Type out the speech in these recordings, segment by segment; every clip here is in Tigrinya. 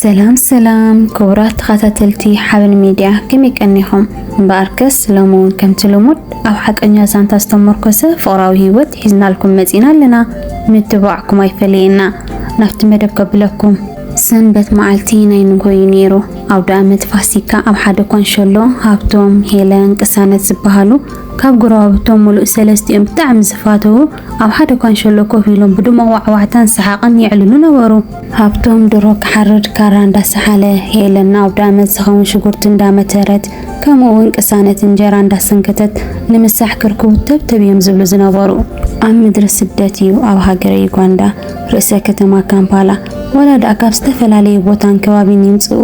ሰላም ሰላም ክቡራት ተኸታተልቲ ሓበን ሚድያ ከመይ ቀኒኹም? እምበኣርከስ ሎሚ እውን ከምቲ ልሙድ ኣብ ሓቀኛ ዛንታ ዝተመርኮሰ ፍቕራዊ ህይወት ሒዝናልኩም መፂና ኣለና። ምትብባዕኩም ኣይፈለየና። ናብቲ መደብ ከብለኩም። ሰንበት መዓልቲ ናይ ንጎ እዩ ነይሩ። ኣውደ ኣመት ፋሲካ ኣብ ሓደ ኮንሸሎ ሃብቶም፣ ሄለን፣ ቅሳነት ዝበሃሉ ካብ ጎረባብቶም ሙሉእ ሰለስቲኦም ብጣዕሚ ዝፋተዉ ኣብ ሓደ ኳንሸሎ ኮፍ ኢሎም ብድሙቕ ዋዕዋዕታን ሰሓቕን የዕልሉ ነበሩ። ሃብቶም ድሮ ክሓርድ ካራ እንዳሰሓለ፣ ሄለን ንኣውደኣመት ዝኸውን ሽጉርቲ እንዳመተረት፣ ከምኡ'ውን ቅሳነት እንጀራ እንዳሰንከተት ንምሳሕ ክርኩ ተብተብ እዮም ዝብሉ ዝነበሩ። ኣብ ምድሪ ስደት እዩ፣ ኣብ ሃገረ ዩጋንዳ ርእሰ ከተማ ካምፓላ። ዋላ ድኣ ካብ ዝተፈላለየ ቦታን ከባቢን ይምጽኡ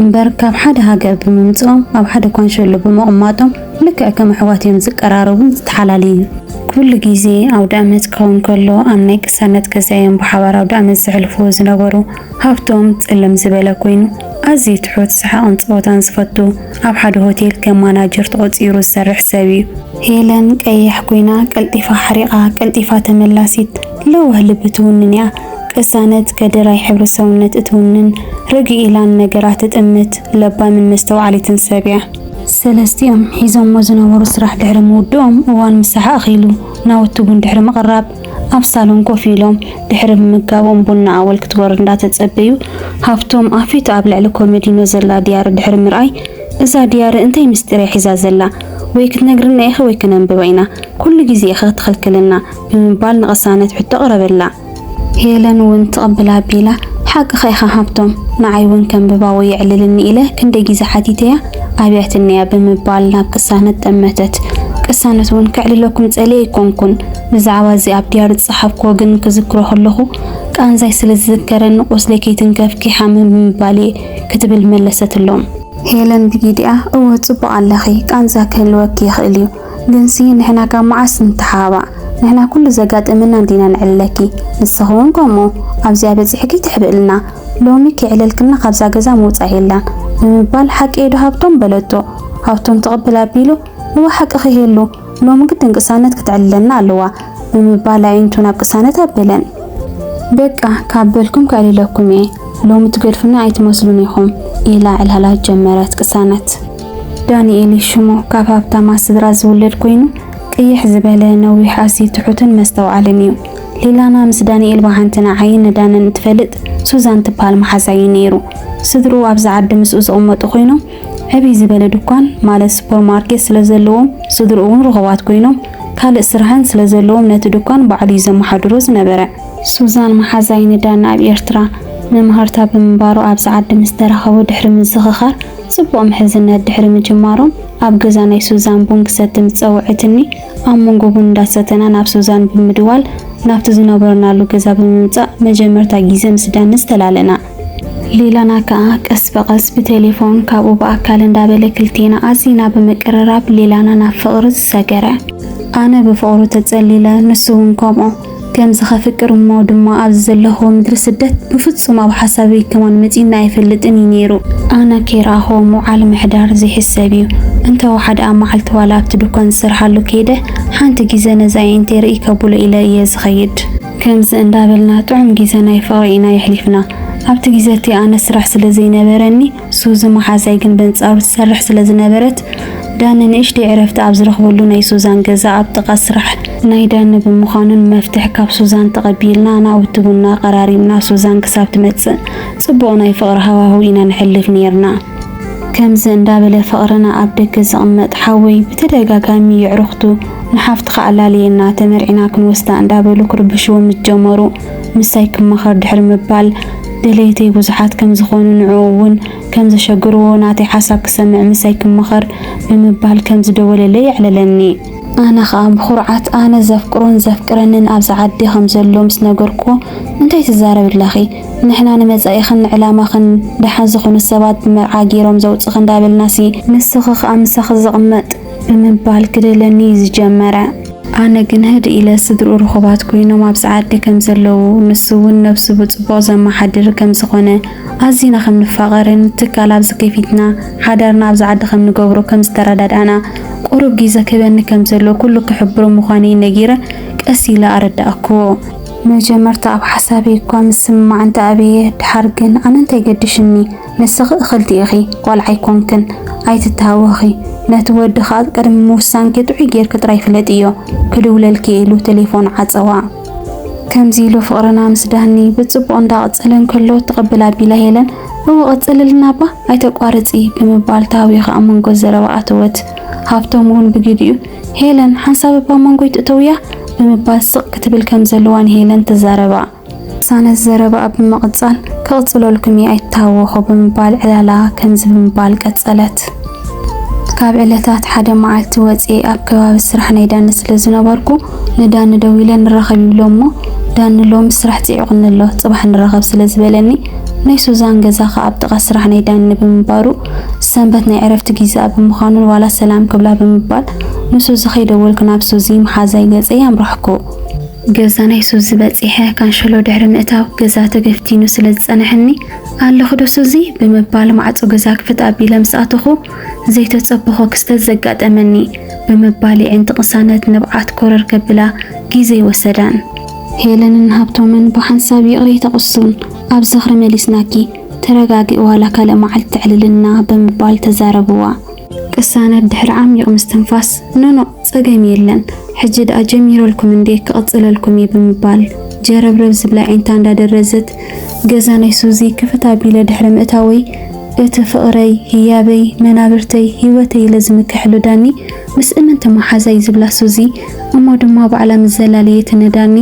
እምበር፣ ካብ ሓደ ሃገር ብምምጽኦም ኣብ ሓደ ኳንሸሎ ብምቕማጦም፣ ልክዕ ከም ኣሕዋት እዮም ዝቀራረቡን ዝተሓላለዩን። ኩሉ ግዜ ኣውደኣመት ክኸውን ከሎ ኣብ ናይ ቅሳነት ገዛ እዮም ብሓባር ኣውደኣመት ዘሕልፍዎ ዝነበሩ። ሃብቶም ጽልም ዝበለ ኮይኑ ኣዝዩ ትሑት፣ ሰሓቕን ጸወታን ዝፈቱ፣ ኣብ ሓደ ሆቴል ከም ማናጀር ተቖጺሩ ዝሰርሕ ሰብ እዩ። ሄለን ቀያሕ ኮይና ቀልጢፋ ሓሪቓ፣ ቀልጢፋ ተመላሲት፣ ለዋህ ልቢ ትውንን እያ። ቅሳነት ከደራይ ሕብሪ ሰውነት እትውንን፣ ርግእ ኢላ ንነገራት ትጥምት፣ ለባምን መስተውዓሊትን ሰብ እያ። ሰለስቲኦም ሒዞሞ ዝነበሩ ስራሕ ድሕሪ ምውድኦም እዋን ምሳሕ ኣኺሉ ናውቲ ቡን ድሕሪ ምቕራብ ኣብ ሳሎን ኮፍ ኢሎም ድሕሪ ምምጋቦም ቡና ኣወል ክትወርድ እንዳተጸበዩ ሃፍቶም ኣፊቱ ኣብ ልዕሊ ኮመዲኖ ዘላ ድያሪ ድሕሪ ምርኣይ እዛ ድያሪ እንታይ ምስጢር እያ ሒዛ ዘላ ወይ ክትነግርና ኢኺ ወይ ክነንብባ ኢና ኩሉ ግዜ ኢኺ ትኽልክልና ብምባል ንቅሳነት ሕቶ ኣቕረበላ። ሄለን ውን ትቕብል ኣቢላ፣ ሓቅኻ ኢኻ ሃብቶም፣ ንዓይ ውን ከንብባዎ የዕልልኒ ኢለ ክንደይ ግዜ ሓቲተያ ኣብያትኒ'ያ ብምባል ናብ ቅሳነት ጠመተት። ቅሳነት ውን ከዕልለኩም ጸልየ ኣይኮንኩን፣ ብዛዕባ እዚ ኣብ ድያሪ ዝጸሓፍኩዎ ግን ክዝክሮ ከለኹ ቃንዛይ ስለ ዝዝከረኒ ቁስለይ ከይትንከፍኪ ሓምም ብምባል'የ ክትብል መለሰትሎም። ሄለን ብጊዲኣ፣ እወ ጽቡቕ ኣለኺ፣ ቃንዛ ክህልወኪ ይኽእል'ዩ፣ ግንሲ ንሕና ካብ መዓስ ንተሓባባዕ ንሕና ኩሉ ዘጋጥመና እንዲና ንዕልለኪ ንስኺ ውን ከምኡ ኣብዚኣ በጺሕኪ ትሕብእልና ሎሚ ከይዕለልክና ካብዛ ገዛ ምውጻእ የላን ብምባል ሓቂ'የ ዶ ሃብቶም በለቶ ሃብቶም ትቕብል ኣቢሉ እወ ሓቅኺ ሄሉ ሎሚ ግድን ቅሳነት ክተዕልለና ኣለዋ ብምባል ኣዒንቱ ናብ ቅሳነት ኣበለን በቃ ካብ በልኩም ከዕልለኩም እየ ሎሚ ትገድፉና ኣይትመስሉን ኢኹም ኢላ ዕላላ ጀመረት ቅሳነት። ዳኒኤል ሽሙ ካብ ሃብታማ ስድራ ዝውለድ ኮይኑ ቅይሕ ዝበለ ነዊሕ ኣዝዩ ትሑትን መስተውዓልን እዩ። ሊላና ምስ ዳኒኤል ብሓንቲ ንዓይን ንዳንን እትፈልጥ ሱዛን ትብሃል መሓዛ እዩ ነይሩ። ስድርኡ ኣብዚ ዓዲ ምስኡ ዝቕመጡ ኮይኖም ዕብይ ዝበለ ድኳን ማለት ሱፐርማርኬት ስለዘለዎም ስድርኡ እውን ርኹባት ኮይኖም ካልእ ስራሕን ስለዘለዎም ነቲ ድኳን ባዕሉ እዩ ዘመሓድሮ ዝነበረ። ሱዛን መሓዛይ ንዳን ኣብ ኤርትራ መማህርታ ብምንባሩ ኣብዚ ዓዲ ምስ ተራኸቡ ድሕሪ ምዝኽኻር ጽቡቕ ምሕዝነት ድሕሪ ምጅማሮም፣ ኣብ ገዛ ናይ ሱዛን ቡን ክሰቲ ምስ ጸውዐትኒ፣ ኣብ መንጎ ቡን እንዳሰተና ናብ ሱዛን ብምድዋል ናብቲ ዝነበርናሉ ገዛ ብምምጻእ መጀመርታ ጊዘ ምስ ዳንስ ተላለና። ሌላና ከኣ ቀስ ብቐስ ብቴሌፎን ካብኡ ብኣካል እንዳበለ ክልቴና ኣዚና ብምቅርራብ ሌላና ናብ ፍቕሪ ዝሰገረ። ኣነ ብፍቕሩ ተጸሊለ ንሱ ውን ከምኡ። ከምዚ ከፍቅር እሞ ድማ ኣብዚ ዘለክዎ ምድሪ ስደት ብፍጹም ኣብ ሓሳበይ ከማን መጺኡኒ ኣይፈልጥን እዩ ነይሩ። ኣነ ከይረኣክዎ ምውዓል ምሕዳር ዘይሕሰብ እዩ። እንተ ወሓደ ኣብ መዓልቲ ዋላ ኣብቲ ዱኳን ዝሰርሓሉ ከይደ ሓንቲ ግዜ ነዚ ኣዒንተይ ርእይ ከብሎ ኢለ እየ ዝኸይድ። ከምዚ እንዳበልና ጥዑም ግዜ ናይ ፍቕሪ ኢና የሕሊፍና። ኣብቲ ግዜ እቲ ኣነ ስራሕ ስለ ዘይነበረኒ ሱዚ መሓዛይ ግን በንጻሩ ትሰርሕ ስለ ዝነበረት፣ ዳኒ ንእሽተይ ዕረፍቲ ኣብ ዝረኽበሉ ናይ ሱዛን ገዛ ኣብ ጥቓ ስራሕ፣ ናይ ዳኒ ብምዃኑ ንመፍትሕ ካብ ሱዛን ተቐቢልና ናውቲ ቡና ኣቐራሪብና ሱዛን ክሳብ ትመጽእ ጽቡቕ ናይ ፍቕሪ ሃዋህው ኢና ነሕልፍ ኔርና። ከምዚ እንዳበለ ፍቕርና ኣብ ደገ ዝቕመጥ ሓወይ ብተደጋጋሚ የዕሩኽቱ ንሓፍትኻ ኣላልየና ተመርዒና ክንወስዳ እንዳበሉ ክርብሽዎ ምስ ጀመሩ፣ ምሳይ ክማኸር ድሕሪ ምባል፣ ደለይተይ ብዙሓት ከም ዝኾኑ ንዕኡ እውን ከም ዘሸግርዎ ናተይ ሓሳብ ክሰምዕ ምሳይ ክማኸር ብምባል ከም ዝደወለለይ የዕለለኒ። ኣነ ኸኣ ብኹርዓት ኣነ ዘፍቅሮን ዘፍቅረንን ኣብዚ ዓዲ ከም ዘሎ ምስ ነገርክዎ እንታይ ትዛረቢ ኣለኺ ንሕና ንመጻኢኽን ንዕላማኽን ደሓን ዝኾኑ ሰባት ብመርዓ ገይሮም ዘውጽእኺ እንዳበልናሲ ንስኺ ኸኣ ምሳኺ ዝቕመጥ ብምባል ክደለኒ እዩ ዝጀመረ። ኣነ ግን ህድእ ኢለ ስድርኡ ርኹባት ኮይኖም ኣብ ጸዓዲ ከም ዘለዉ፣ ንሱ እውን ነብሱ ብጽቡቕ ዘመሓድር ከም ዝኾነ፣ ኣዚና ከም ንፋቐርን ትካል ኣብ ዝከፊትና ሓዳርና ኣብዚ ዓዲ ከም ንገብሮ ከም ዝተረዳዳእና፣ ቁሩብ ጊዘ ክህበኒ ከም ዘለዎ ኩሉ ክሕብሮ ምዃነይ ነጊረ ቀስ ኢለ ኣረዳእኩዎ። መጀመርታ ኣብ ሓሳበይ እኳ ምስምማዕ እንተኣበየ፣ ድሓር ግን ኣነ እንታይ ገዲሹኒ? ንስኺ እኽልቲ ኢኺ ቆልዓ ኣይኮንክን ኣይትተሃወኺ ነቲ ወዲ ኸኣ ቅድሚ ምውሳንኪ ጥዑይ ጌርኪ ጥራይ ፍለጥዮ ክድውለልኪ ኢሉ ቴሌፎን ዓጸዋ። ከምዚ ኢሉ ፍቕርና ምስ ዳኒ ብጽቡቕ እንዳቐጸለ እንከሎ ትቕብል ኣቢላ ሄለን እወ ቀጽልልና እባ ኣይተቋርጺ ብምባል ተሃዊኻ ኣብ መንጎ ዘረባ ኣተወት። ሃብቶም እውን ብግዲኡ ሄለን ሓንሳብ እባ መንጎይ ትእተውያ ብምባል ስቕ ክትብል ከም ዘለዋ ንሄለን ተዛረባ። ቅሳነት ዘረባኣ ብምቕጻል፣ ክቕጽለልኩም እየ ኣይትተሃወኹ ብምባል ዕላላ ከምዚ ብምባል ቀጸለት፣ ካብ ዕለታት ሓደ መዓልቲ ወጺኤ ኣብ ከባቢ ስራሕ ናይ ዳኒ ስለ ዝነበርኩ ንዳኒ ደዊለ ንራኸብ ይብሎ እሞ ዳኒ ሎሚ ስራሕ ጽዒቑኒ ኣሎ ጽባሕ ንራኸብ ስለ ዝበለኒ ናይ ሱዛን ገዛ ከኣ ኣብ ጥቓ ስራሕ ናይ ዳኒ ብምንባሩ ሰንበት ናይ ዕረፍቲ ጊዝኣ ብምዃኑ ዋላ ሰላም ክብላ ብምባል ንሱዚ ከይደወልኩ ናብ ሱዚ መሓዛይ ገጸይ ኣምራሕኩ። ገዛ ናይ ሱዚ በጺሐ ካንሸሎ ድሕሪ ምእታው ገዛ ተገፍቲኑ ስለ ዝጸንሐኒ ኣለኽዶ ሱዚ ብምባል ማዕጾ ገዛ ክፍት ኣቢለ ምስ ኣተኹ ዘይተጸበኾ ክስተት ዘጋጠመኒ ብምባል የዒንቲ ቅሳነት ንብዓት ኮረር ከብላ ግዜ ወሰዳን። ሄለንን ሃብቶምን ብሓንሳብ ይቕረ ይተቕሱን ኣብ ዝኽሪ መሊስናኪ ተረጋግኢ ዋላ ካልእ መዓልቲ ተዕልልና ብምባል ተዛረብዋ። ቅሳነት ድሕሪ ዓሚቕ ምስትንፋስ ኖኖእ ጸገም የለን ሕጂ ድኣ ጀሚረልኩም እንዴ ክቅጽለልኩም እየ ብምባል ጀረብረብ ዝብላ ኣዒንታ እንዳደረዘት ገዛ ናይ ሱዚ ክፍት ኣቢለ ድሕሪ ምእታወይ እቲ ፍቅረይ ህያበይ መናብርተይ ሂወተይ ኢለ ዝምክሕሉ ዳኒ ምስ እምንቲ መሓዛይ ዝብላ ሱዚ እሞ ድማ ባዕላ ምስ ዘላለየትኒ ዳኒ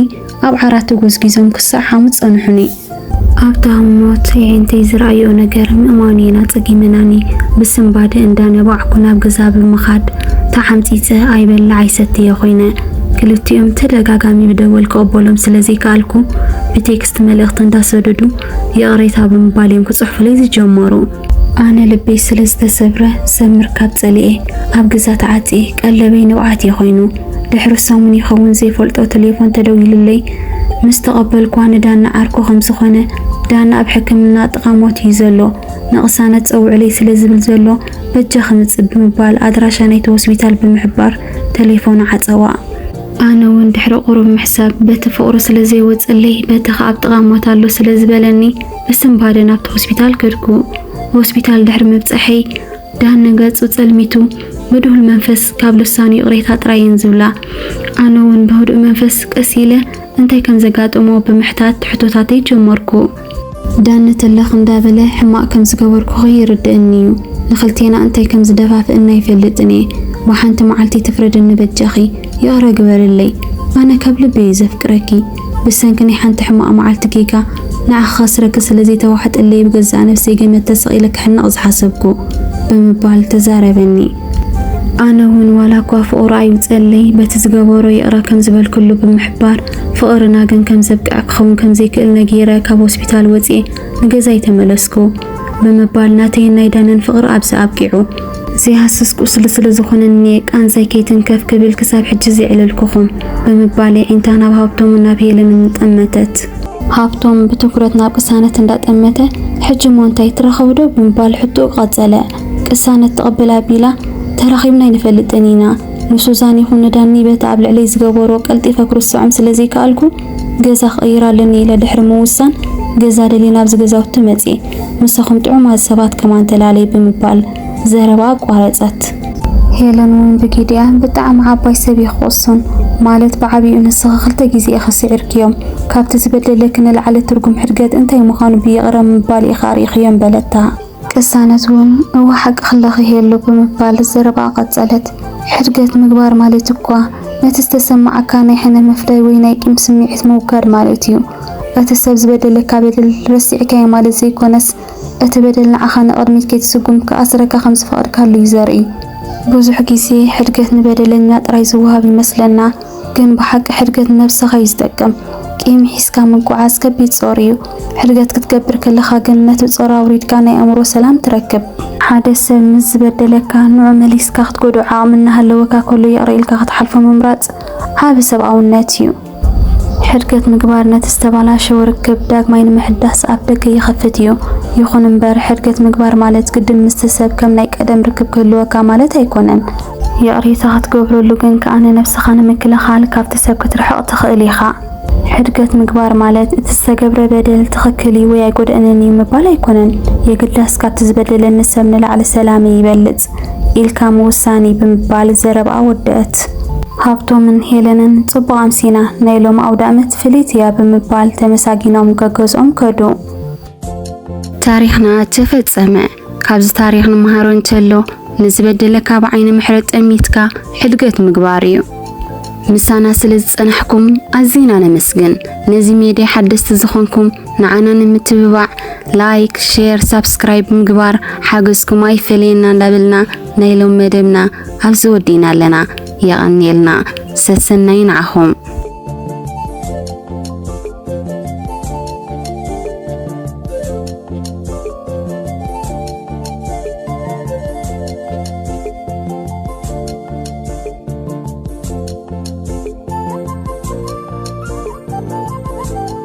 ኣብ ዓራት ተጎዝጊዞም ክሳዕ ሓሙስ ጸንሑኒ። ኣብታ ሞት የዒንተይ ዝረኣይኦ ነገር ምእማኑ'የን ኣጸጊመናኒ። ብስንባደ እንዳነባዕኩ ናብ ገዛ ብምኻድ ተዓምጺጸ ኣይበልዕ ኣይሰትየ ኮይነ። ክልቲኦም ተደጋጋሚ ብደወል ክቕበሎም ስለ ዘይከኣልኩ ብቴክስት መልእኽቲ እንዳሰደዱ ይቕሬታ ብምባል'ዮም ክጽሕፉለይ ዝጀመሩ። ኣነ ልበይ ስለ ዝተሰብረ ዘምር ካብ ጸሊኤ ኣብ ገዛ ተዓጽየ ቀለበይ ንብዓት እየ ኮይኑ ድሕሪ ሰሙን ይኸውን ዘይፈልጦ ተሌፎን ተደዊሉለይ ምስ ተቐበልኳ ንዳና ዓርኩ ከም ዝኾነ ዳና ኣብ ሕክምና ጥቓ ሞት እዩ ዘሎ ንቕሳነት ጸውዕለይ ስለ ዝብል ዘሎ በጃ ክምጽእ ብምባል ኣድራሻ ናይቲ ሆስፒታል ብምሕባር ተሌፎኑ ዓጸዋ። ኣነ እውን ድሕሪ ቁሩብ ምሕሳብ በቲ ፍቕሩ ስለ ዘይወጸለይ በቲ ከኣ ኣብ ጥቓ ሞት ኣሎ ስለ ዝበለኒ ብስንባደ ናብቲ ሆስፒታል ከድኩ። ሆስፒታል ድሕሪ ምብጻሐይ ዳኒ ገጹ ጸልሚቱ ብድሁል መንፈስ ካብ ልሳኑ ይቕሬታ ጥራየን ዝብላ። ኣነ እውን ብህዱእ መንፈስ ቀስ ኢለ እንታይ ከም ዘጋጠሞ ብምሕታት ሕቶታተይ ጀመርኩ። ዳኒ ተለኽ እንዳበለ ሕማቕ ከም ዝገበርኩ ይርድእኒ እዩ። ንኽልቴና እንታይ ከም ዝደፋፍእና ይፈልጥን እየ። ብሓንቲ መዓልቲ ትፍረድኒ በጃኺ ይቕረ ግበርለይ። ኣነ ካብ ልቢ እየ ዘፍቅረኪ። ብሰንኪ ናይ ሓንቲ ሕማቕ መዓልቲ ጌጋ ንዓኺ ከስረኪ ስለ ዘይተዋሕጠለይ ብገዛእ ነብሰይ ገመድ ተሰቒለ ክሕነቕ ዝሓሰብኩ። ብምባል ተዛረበኒ። ኣነ ውን ዋላኳ ፍቕሩ ኣይውጸለይ በቲ ዝገበሮ ይቕረ ከም ዝበልክሉ ብምሕባር ፍቕርና ግን ከም ዘብቅዐ ክኸውን ከም ዘይክእል ነጊረ ካብ ሆስፒታል ወጺኤ ንገዛይ ተመለስኩ። ብምባል ናተይን ናይ ዳነን ፍቕሪ ኣብዚ ኣብቂዑ። ዘይሃስስ ቁስሊ ስለ ዝኾነኒ ቃንዛይ ከይትንከፍ ክብል ክሳብ ሕጂ ዘየዕለልኩኹም ብምባል የዒንታ ናብ ሃብቶምን ናብ ሄለንን ጠመተት። ሃብቶም ብትኹረት ናብ ቅሳነት እንዳጠመተ ሕጂ እሞ እንታይ ትራኸቡ ዶ ብምባል ሕቶኡ ቀጸለ። ቅሳነት ትቕብል ኣቢላ ተራኺብና ኣይንፈልጥን ኢና። ንሱዛን ይኹን ንዳኒ በቲ ኣብ ልዕለይ ዝገበሮ ቀልጢፈ ክርስዖም ስለ ዘይከኣልኩ ገዛ ክቕይር ኣለኒ ኢለ ድሕሪ ምውሳን ገዛ ደልየ ናብዚ ገዛውቲ መጽየ። ምሳኹም ጥዑማት ሰባት ከማን ተላለይ ብምባል ዘረባ ኣቋረጸት። ሄለን ውን ብጊድያ፣ ብጣዕሚ ዓባይ ሰብ ኢኺ ቅሱን፣ ማለት ብዓቢኡ ንስኺ ክልተ ግዜ ኢኺ ስዒርክዮም፣ ካብቲ ዝበደለኪ ንላዕሊ ትርጉም ሕድገት እንታይ ምዃኑ ብይቕረ ምባል ኢኺ ኣርኢኽዮም በለታ። ቅሳነት ውን እወ ሓቂ ክለኺ ሄሉ ብምባል ዘረባኣ ቀጸለት፣ ሕድገት ምግባር ማለት እኳ ነቲ ዝተሰማዓካ ናይ ሕነ ምፍዳይ ወይ ናይ ቂም ስምዒት ምውጋድ ማለት እዩ፣ እቲ ሰብ ዝበደለካ በደል ረሲዕካዮ ማለት ዘይኮነስ፣ እቲ በደል ንዓኻ ንቕድሚት ከይትስጉም ክኣስረካ ከም ዝፈቐድካሉ እዩ ዘርኢ። ብዙሕ ግዜ ሕድገት ንበደለኛ ጥራይ ዝወሃብ ይመስለና፣ ግን ብሓቂ ሕድገት ንነብሰኻ እዩ ዝጠቅም። ቂም ሒዝካ ምጉዓዝ ከቢድ ጾር እዩ፣ ሕድገት ክትገብር ከለኻ ግን ነቲ ጾር ኣውሪድካ ናይ ኣእምሮ ሰላም ትረክብ። ሓደ ሰብ ምስ ዝበደለካ፣ ንዕኡ መሊስካ ክትጎድኦ ዓቕሚ እናሃለወካ ከሎ ይቕረ ኢልካ ክትሓልፎ ምምራጽ ዓቢ ሰብኣውነት እዩ። ሕድገት ምግባር ነቲ ዝተበላሸወ ርክብ ዳግማይ ንምሕዳስ ኣፍ ደገ ይኸፍት እዩ። ይኹን እምበር፣ ሕድገት ምግባር ማለት ግድን ምስቲ ሰብ ከም ናይ ቀደም ርክብ ክህልወካ ማለት ኣይኮነን። ይቕሬታ ክትገብረሉ ግን ከኣ ንነብስኻ ንምክልኻል ካብቲ ሰብ ክትርሕቕ ትኽእል ኢኻ። ሕድገት ምግባር ማለት እቲ ዝተገብረ በደል ትኽክል እዩ ወይ ኣይጎድእንን እዩ ምባል ኣይኮነን። የግዳስ ካብቲ ዝበደለኒ ሰብ ንላዕሊ ሰላመይ ይበልጽ። ኢልካ ምውሳኒ ብምባል ዘረብኣ ወደእት። ሃብቶምን ሄለንን ጽቡቕ ኣምሲና፣ ናይ ሎሚ ኣውዳእመት ፍልይቲ እያ ብምባል ተመሳጊኖም ገገዝኦም ከዱ። ታሪኽና ተፈጸመ። ካብዚ ታሪኽ ንመሃሮ እንተሎ ንዝበደለካ ብዓይኒ ምሕረት ጠሚትካ ሕድገት ምግባር እዩ። ምሳና ስለ ዝጸናሕኩም ኣዚና ነመስግን። ነዚ ሜድያ ሓደስቲ ዝኾንኩም ንዓና ንምትብባዕ ላይክ ሼር ሳብስክራይብ ብምግባር ሓገዝኩም ኣይፈለየና እንዳበልና ናይ ሎም መደብና ኣብዚ ወዲእና ኣለና የቐንየልና ሰሰናዩ ንዓኹም